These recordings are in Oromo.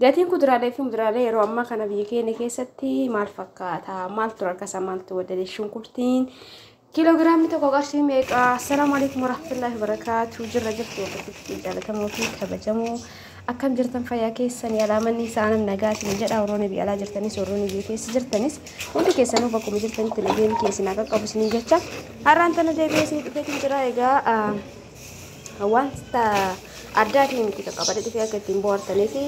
Gatiin kuduraalee fi muduraalee yeroo ammaa kana biyya keenya keessatti maal fakkaata? Maaltu rakasa? Maaltu wadale? Shunkurtiin kiiloogiraamni tokko qarshii meeqa? Assalaamu alaikum warahmatullahi wabarakaatu. Jirra jirtu hordoftoota jaallatamoo fi kabajamoo akkam jirtan fayyaa keessan yaalaa manni isaa nam nagaatiin jedha warroonni biyya alaa jirtanis warroonni biyya keessa jirtanis hundi keessanuu bakkuma jirtanitti nageen keessan akka qabu isin jecha har'aan tana deebi'ee isin dhufeetiin jira egaa wanta addaatiin miti qaqqabate dhufee akka ittiin bohaartanii fi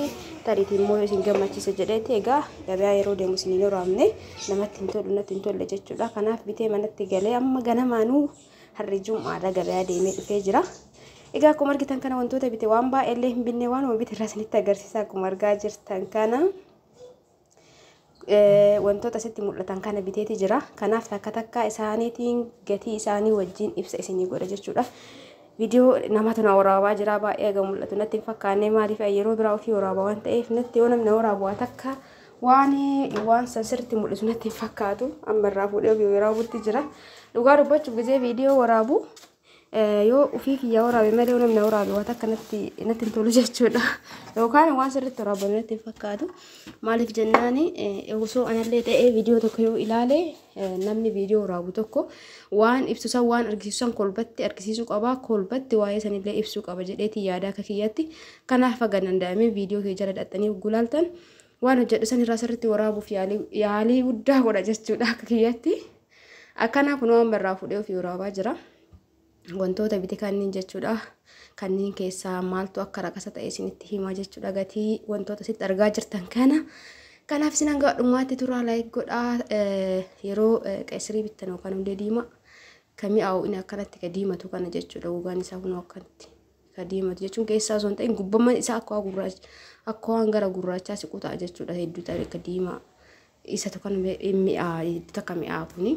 tariitiin immoo yoo isin gammachiise jedheeti egaa gabaa yeroo deemu isin hin horaamne namatti hin tolu natti hin tolle jechuudha kanaaf bitee manatti galee amma ganamaanuu harri jum'aadha gabaa deemee dhufee jira. Egaa akkuma argitan kana wantoota bite waan baay'eellee hin binne waan bite irraa isinitti agarsiisa akkuma argaa jirtan kana. wantoota sitti mul'atan kana biteeti jira. Kanaaf takka takka isaaniitiin gatii isaanii wajjin ibsa isinii godha jechuudha. Viidiyoo namatu na waraabaa jira baay'ee egaa mul'atu natti hin fakkaanne maaliif yeroo biraa ofii waraabaa waan ta'eef natti yoo namni na waraabu waa takka waan waan san sirriitti mul'isu natti hin fakkaatu amma irraa fuudhee ofii waraabutti jira. Dhugaa dubbachuuf gizee viidiyoo waraabu yoo ofii kiyya waraabe malee yoo namni waraabe waan akka natti natti hin tolu jechuudha. Yookaan waan sirriitti waraabame natti hin fakkaatu. Maaliif jennaan osoo anallee ta'ee viidiyoo tokko yoo ilaale namni viidiyoo waraabu tokko waan ibsu san waan argisiisu san kolbatti argisiisuu qaba. Kolbatti waa'ee sanillee ibsuu qaba jedheetii yaada akka kiyyatti. Kanaaf haga danda'amee viidiyoo kee jala dhaxxanii gulaaltan waan hojjedhu san irraa sirriitti waraabuuf yaalii guddaa godha jechuudha akka kiyyatti. Akkanaa kunoo amma irraa fuudhee ofii waraabaa jira. Wantoota biti kanniin jechuudha. Kanniin keessaa maaltu akka raqasa ta'e isinitti himaa jechuudha. Gatii wantoota sitti argaa jirtan kana. Kanaaf isin hanga dhumaatti turaa laayik godhaa yeroo qeesirii bittan yookaan hundee diimaa kan mi'aawu inni akkanatti ka diimatu kana jechuudha. Gogaan isaa kunoo akkanatti. ka diimatu jechuun keessaa osoo hin ta'in gubbamman isaa akka waan gurraacha akka waan gara gurraachaa siqu ta'a jechuudha hedduu ta'e ka diimaa isatu kan mi'aa hedduu takka mi'aa kuni.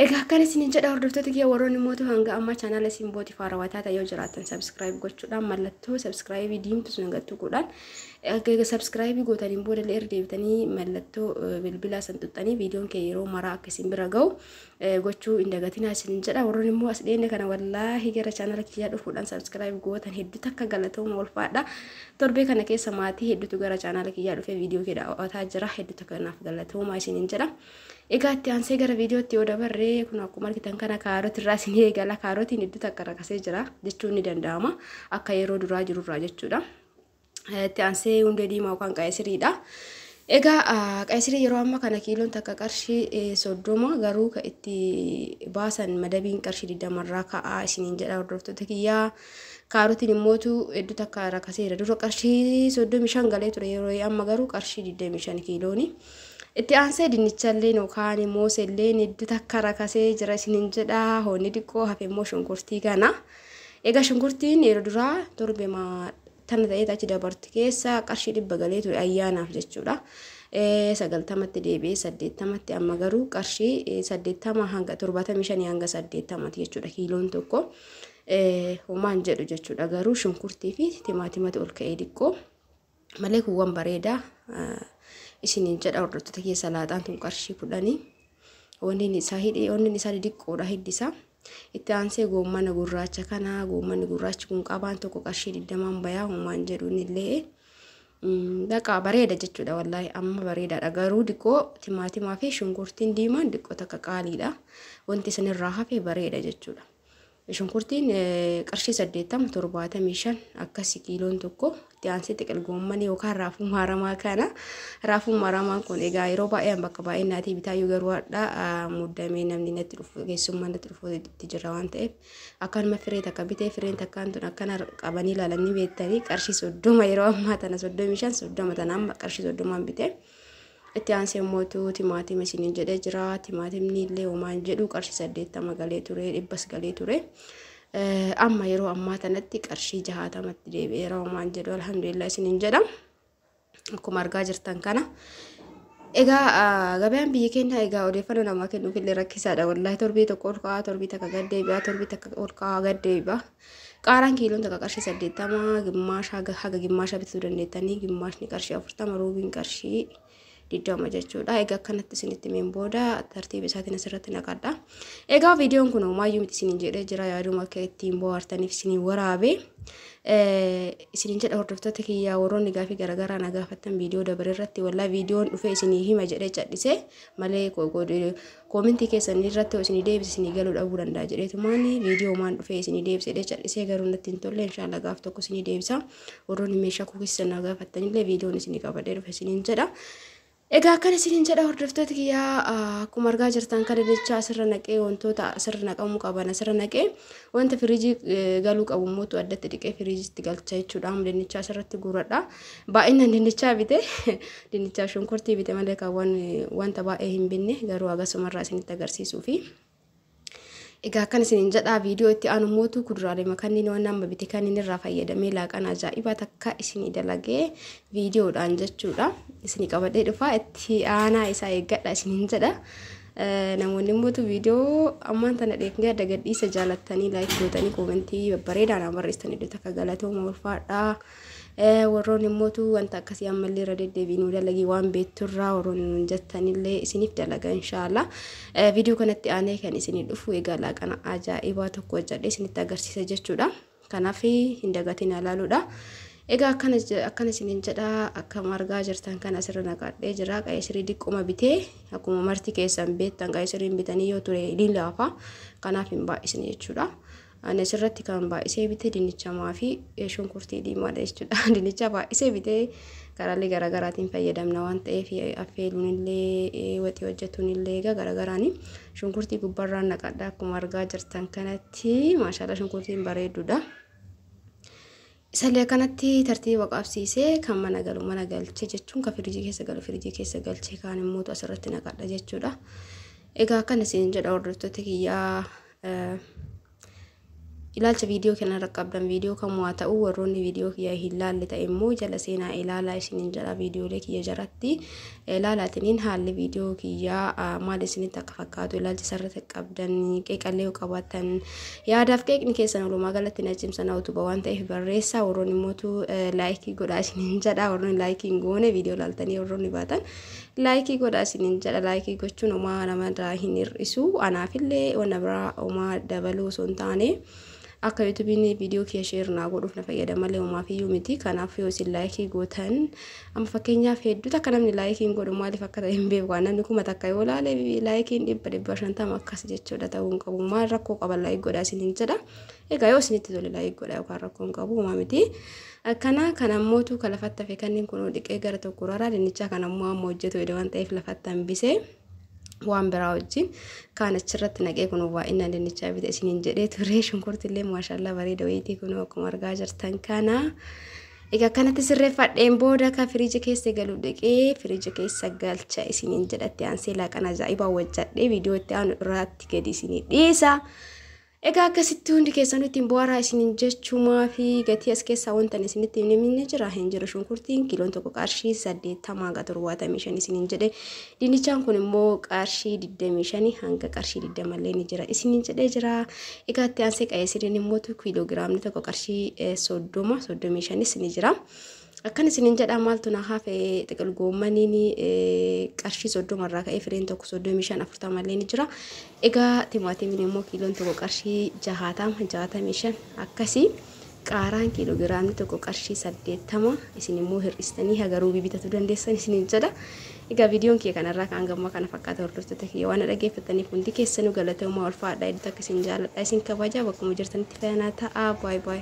Egaa akkan isin jedha hordoftoota kiyya warroonni mootu hanga ammaa chaanaala isin booti faarawaa taata yoo jiraatan sabskiraayib gochuudhaan mallattoo sabskiraayibii diimtu sun hanga tuquudhaan egaa sabskiraayibii gootaniin booda illee erga deebitanii mallattoo bilbilaa san tuqxanii viidiyoon kee yeroo maraa akka isin bira ga'u gochuu hin dagatinaa isinin jedha warroon immoo as dhiyeenya kana wallaahi gara chaanala kiyyaa dhufuudhaan sabskiraayib gootan hedduu takka galatooma ulfaadha torbee kana keessa maatii hedduutu gara chaanala kiyyaa dhufee viidiyoo kee daawwataa jira hedduu takka naaf galatooma isinin jedha egaa itti aansee gara viidiyootti yoo dabarree kun akkuma argitan kana kaaroti irraa isin eegala kaarotiin hedduu takka rakasee jira jechuun ni danda'ama akka yeroo duraa jirurraa jechuudha. Itti aansee hundee diimaa yookaan qaayisiriidha. Egaa qaayisirii yeroo amma kana kiiloon takka qarshii soddoma garuu ka itti baasan madabiin qarshii digdamarraa ka'aa isiniin jedha hordoftoota kiyyaa. Kaarotiin immootu hedduu takka rakaseera. Dura qarshii soddomi shan galee ture yeroo amma garuu qarshii digdami shan kiilooni. Itti aansee dinnichallee yookaan moosellee hedduu takka rakasee jira isiniin jedha. Hoonni diqqoo hafe immoo shunkurtii kana. Egaa shunkurtiin yeroo duraa torbema tana ta'eet achi dabarti keessa qarshii dhibba galee ture ayyaanaaf jechuudha. Sagaltamatti deebi'ee saddeettamatti amma garuu qarshii saddeettama hanga torbaatamii shanii hanga saddeettamati jechuudha kiiloon tokko. Homaan jedhu jechuudha garuu shunkurtii fi timaatimatu ol ka'ee diqqoo. malee kun waan bareedaa isiniin jedha hordoftoota kiyya salaaxaan tun qarshii kudhanii wanni isaa hidhee wanni isaa diqqoodha hiddisaa itti aansee goommana gurraacha kana goommanni gurraachi kun qabaan tokko qarshii digdamaan bayaa homaan jedhuun illee baqa bareeda jechuudha wallaahi amma bareedaadha garuu diqqoo timaatimaa fi shunkurtiin diimaan diqqoo takka qaaliidha wanti isinirraa hafe bareeda jechuudha. Shunkurtiin qarshii 80 75 akkasi kiiloon tokko itti aansee xiqil goommanii yookaan raafuu maaramaa kana raafuu maaramaan kun egaa yeroo baay'een bakka baay'een naatii bitaayyuu garuu hadhaa muddamee namni natti dhufu keessummaa natti dhufu itti jirra waan ta'eef akkanuma firee takka bitee fireen takkaan tun akkana qabanii ilaalanii beektanii qarshii soddoma yeroo ammaa tana 35 soddoma tana amma qarshii soddomaan bitee. Itti aansee immootu timaatima isiniin jedhee jira. Timaatimni illee homaa hin jedhu qarshii saddeettama galee ture dhibbas galee ture. Amma yeroo ammaa tanatti qarshii jahaatamatti deebi'eera homaa hin jedhu alhamdulillah isiniin jedha. Akkuma argaa jirtan kana. Egaa gabaan biyya keenya egaa odeeffannoo namaa kennuuf illee rakkisaadha. Wallaahi torbii tokko ol ka'aa torbii takka gad deebi'aa torbii takka ol ka'aa gad deebi'aa. Qaaraan kiiloon takka qarshii saddeettama gimmaasha haga haga gimmaasha bituu dandeettanii gimmaashni qarshii afurtama ruubiin qarshii digdama jechuudha. Egaa akkanatti isinitti meen booda tartiiba isaatiin asirratti naqadha. Egaa viidiyoon kun maayyuu miti isiniin jedhee jira yaaduma akka ittiin bohaartaniif isiniin waraabe. Isiniin jedha hordoftoota kiyyaa warroonni gaafii garaagaraa na gaafattan viidiyoo dabaree irratti wallaa viidiyoon dhufee isinii hima jedhee cadhise malee Comment keessan irratti hoo isinii deebise isinii galuu dhabuu danda'a jedheetumaan viidiyoo maan dhufee isinii deebise jedhee callisee garuu natti hin tolle inshaalla gaaf tokko isinii deebisa warroonni meeshaa koo keessa naa gaafattanillee viidiyoon isinii qabadhee dhufe isiniin jedha. Egaa akkan isiniin jedha hordoftoota kiyyaa akkuma argaa jirtan kana jecha asirra naqee wantoota asirra naqamuu qaban asirra naqee wanta firiijii galuu qabu immoo addatti dhiqee firiijiitti galcha jechuudha. Dinnicha asirratti guuradha. Baay'inaan dinnichaa bite dinnichaa shunkurtii bite malee kan wanta baay'ee hin binne garuu agasumarraa isinitti agarsiisuu fi Egaa akkan isinin jedhaa viidiyoo itti aanu mootuu kuduraalee makanniin waan amma bite kanniin irraa fayyadamee laaqan ajaa'ibaa takka isinii dalagee viidiyoodhaan jechuudha. Isinii qabadhee dhufaa itti aanaa isaa eeggadha isinin jedha. Namoonni mootu viidiyoo ammaan tana dheeknee adda gadhiisa jaalattanii laayik gootanii koomentii babbareedaa naa barreessitanii dhota akka galatooma ulfaadhaa. Warroon immootu wanta akkasii ammallee irra deddeebiin nu dalagii waan beekturraa warroon nuun jettanillee isiniif dalaga inshaalla. Viidiyoo kanatti aanee kan isinii dhufu egaa laaqana ajaa'ibaa tokko hojjadhee isinitti agarsiisa jechuudha. Kanaaf hin dagatiin ilaaluudha. Egaa akkana akkana isiniin jedha akkam argaa jirtan kan asirra naqadhee jira qayisirii diqquma bitee akkuma marti keessan beektan qayisiriin bitanii yoo ture ni laafa kanaaf hin baay'isne jechuudha. Ani asirratti kan baay'isee bite dinnichamaa fi shunkurtii diimaadha jechuudha. Dinnicha baay'isee bite karaalee garaagaraatiin fayyadamna waan ta'eef affeeluun illee waxii hojjetuun illee egaa garaagaraani. Shunkurtii gubbarraan naqadha akkuma argaa jirtan kanatti maashaallah shunkurtiin bareedduudha. Isalle akkanatti tartiiba qabsiise, kan mana galu mana galche jechuun kan firijii keessa galu firijii keessa galche kaan immoo asirratti naqadha jechuudha. Egaa akkan isin jedha hordoftoota kiyyaa eh, ilaalcha viidiyoo kana irra qabdan viidiyoo kamuu haa ta'u warroonni viidiyoo kiyya hin laalle ta'e immoo jala seenaa ilaalaa isiniin jedha viidiyoolee kiyya jaratti Ilaalaatiniin haalli viidiyoo kiyyaa maal isinitti akka fakkaatu ilaalcha sarratti qabdan qeeqallee yoo qabaattan yaadaaf qeeqni keessan walumaa galatti na cimsa na utuba waan ta'eef barreessaa warroonni mootu laayikii godhaa isiniin jedha warroonni laayikii hin goone viidiyoo ilaaltanii warroonni baatan laayikii godhaa isiniin jedha laayikii gochuun homaa namarraa hin hir'isu anaafillee wanna biraa homaa dabaluu osoo hin taane Akka yuutubiin viidiyoo kiyya sheer naa godhuuf na fayyada malee homaafiyyuu miti. Kanaaf yoo isin laayikii gootan amma fakkeenyaaf hedduu takka namni laayikii hin godhu maaliif akka ta'e hin beeku. Waan namni kuma takka yoo laale laayikiin dhibba dhibba shantama akkas jechuudha ta'uu hin qabu. Maal rakkoo qaba laayik godhaa isin hin jedha. Egaa yoo isinitti tole laayik godhaa yookaan rakkoo hin qabu homaa miti. Akkana kan ammootu kan lafatti hafe kanniin kunoo dhiqee gara tokko raraa dinnichaa kan ammoo amma hojjetu waan ta'eef lafatti hambisee. waan biraa wajjin kaan achirratti naqee kun waa inni dinnichaa bite isiniin jedhee turee shunkurti illee maashaallaa bareeda wayiitii kun akkuma argaa jirtan kana. Egaa kanatti sirreeffadheen booda ka firiiji keessa galu dhiqee firiiji keessa galcha isiniin jedhatti aansee laaqana ajaa'ibaa wajjadhee viidiyoo itti aanu irraatti gadi isinii dhiisa. Egaa akkasitti hundi keessanuu ittiin bu'aaraa isiniin jechuu maafi gatii as keessaa wanta ani isinitti hin himne jira hin jiru shunkurtiin kiiloon tokko qarshii saddeettama hanga torbaatamii shan isiniin jedhe dinnichaan kun immoo qarshii digdamii shani hanga qarshii digdama illee ni jira isiniin jedhee jira egaa itti aansee qa'ee siriin immoo kiiloo giraamni tokko qarshii soddoma soddomii shanis ni jira. Akkan isinin jedhaa maaltu na hafe xiqil goommaniin qarshii soddoma irraa ka'ee fireen tokko soddomii shan afurtama illee ni jira. Egaa timaatimiin immoo kiiloon tokko qarshii jahaatama jaatamii shan akkasii qaaraan kiiloogiraamni tokko qarshii saddeettama isin immoo hir'istanii hagaruu bibitatu dandeessan isinin jedha. Egaa viidiyoon kiyya kanarraa kan gammaa kana fakkaata hordoftoota kiyya waan dhaggeeffataniif hundi keessanuu galatoomaa ulfaadha edda takka isin jaaladha isin kabajaa bakkuma jirtanitti fayanaa ta'aa baay baay.